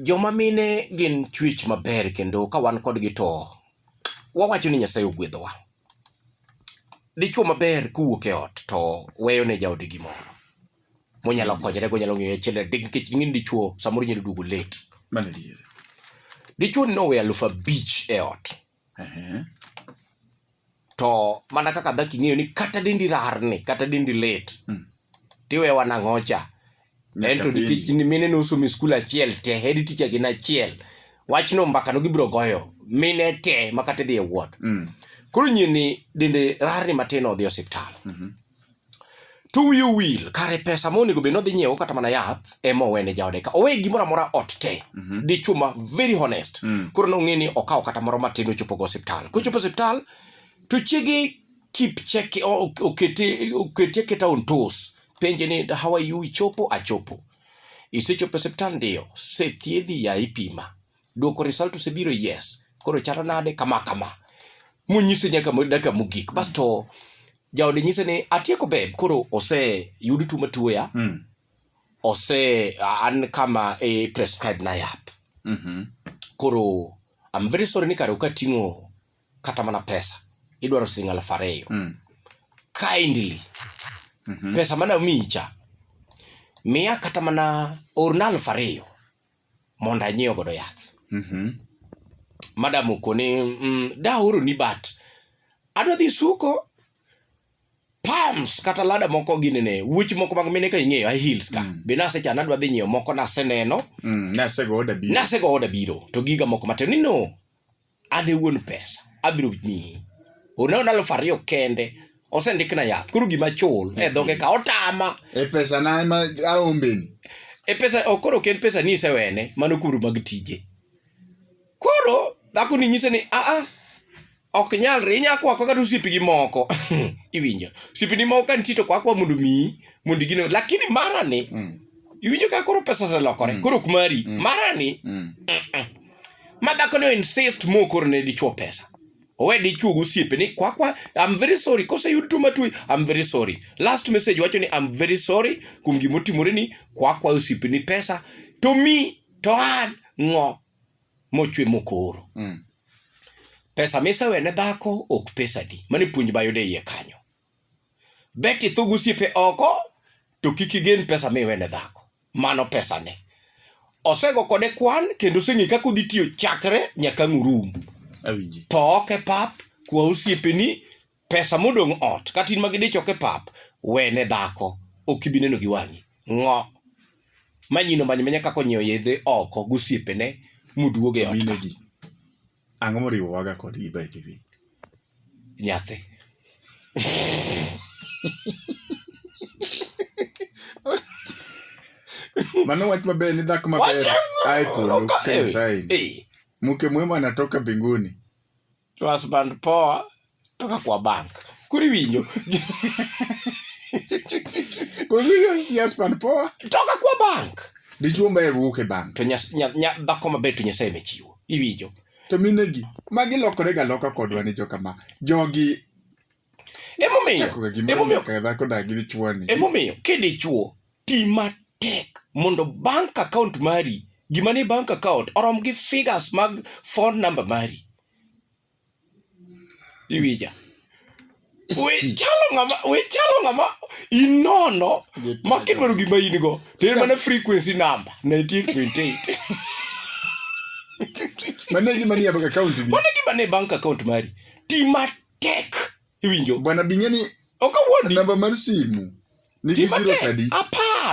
Joma mine gin chwech maber kendo ka wan kodgi to wawacho ni Nyasaye ogwedhowa. Dichwo maber kowuok e ot to weyo ne jaode gimoro monyalo konyore go, onyalo ng'iewo achiel adek nikech ing'e ni dichwo samoro onyalo duogo late. Mano adier. Dichwoni noweyo alufu abich e ot. to mana kaka dhako ing'eyo ni kata dendi rarni kata dendi lit mm. tiwe wanang'ocha ento nikech mine nosomo e skul achiel te hedi ticha gin achiel wachno mbakano gibiro goyo mine te makata idhi e wuot mm. koro nyini dende rarni matin odhi e osiptal mm -hmm. to wiye owil kare pesa monego bed nodhi nyiewo kata mana yath ema owene jaode ka owe gimoro amora ot te mm -hmm. dichuo ma very honest mm. koro nong'e ni okawo kata moro matin ochopogo osiptal kochopo osiptal to chiege keep check okete okete aketa on toes penje ni how are you ichopo achopo isechopo osiptal ndiyo sethiedhi ya ipima dwoko result osebiro yes koro chalo nade kama kama munyise nyaka dakika mogik basto mm. jaode nyise ni atieko beb koro oseyud tuo matuoya Mm. ose an kama e prescribe na yath Mhm. koro I'm very sorry ni kare ukating'o kata mana pesa idwaro siling alfu ariyo Mm. kindly Mhm. pesa mana micha miya kata mana orna alfu ariyo mondo anyiew godo yath. Mhm. Madam okone, mm, da oro ni bat. Adwa dhi suko palms kata lada moko gini ne wuoch moko mag mine ka ing'eyo high heels ka mm. be nasechano adwa dhi nyiewo moko naseneno mm, nasego oda biro nasego oda biro to giga moko matin ni no an e wuon pesa abiro miyi one one aluf ariyo kende osendikna yath koro gima chul e dhoge ka otama e pesa na ema aombeni e pesa ok koro ok en pesa ni isewene mano kuru mag tije koro dhako ni nyise ni aa ok nyalre inya kwa kwa kata osiepi gi moko iwinjo osiepi ni moko ka nitie to kwa kwa mondo miyi mondo igine lakini mara ni mm. iwinjo ka koro pesa oselokore mm. koro ok mari mm. mara ni mm. uh -uh. ma dhako ni insist mo koro ne dichuo pesa owe dichuo gosiepe ni kwakwa I'm very sorry kose yud tuo matwi I'm very sorry last message wacho ni I'm very sorry kuom gima otimore ni kwakwa osiepe ni pesa to mi to an ng'o mochwe mokoro mm. pesa misewe ne dhako ok pesa di mane puonj bayude iye kanyo beti thugu siepe oko to kik igen pesa miwe ne dhako mano pesane. Osego kode kwan kendo oseng'e kaka odhi tiyo chakre nyaka ang' urum. Awinji. To ok e pap, kwa osiepeni, pesa modong' ot, kata in ma gidich ok e pap, wene dhako, ok ibi neno gi wang'i. Ng'o. Manyino many manya kaka onyiewo yedhe oko gosiepene moduog e ot ka. Minegi. Ang'o moriwowaga kodgi by the way? Nyathi. Mano wach maber ni dhako maber ae polo ka Nyasaye ni. Hey, Mke mwema anatoka mbinguni. husband poa. to ka kwa bank kuri winjo Oziyo yes man poa. toka kwa bank Dichuo mba eruok e bank. to nyas- nya- nya- dhako maber to nyasaye mechiwo iwinjo To minegi magi lokore ga loka kodwa ni joka ma. Jogi emomiyo chako ga gimoro emomiyo ka dhako da gi dichuo ni. emomiyo kidichuo ti matek mondo bank account mari gima ni bank account orom gi figures mag phone number mari iwija we chalo ng'ama we chalo ng'ama inono ma kidwaro gima in go to en mana frequency number 98.8 mane gima ni bank account ni mane gima ni bank account mari ti matek iwinjo bwana bingeni okawuondi namba mar simu ni zero sadi apar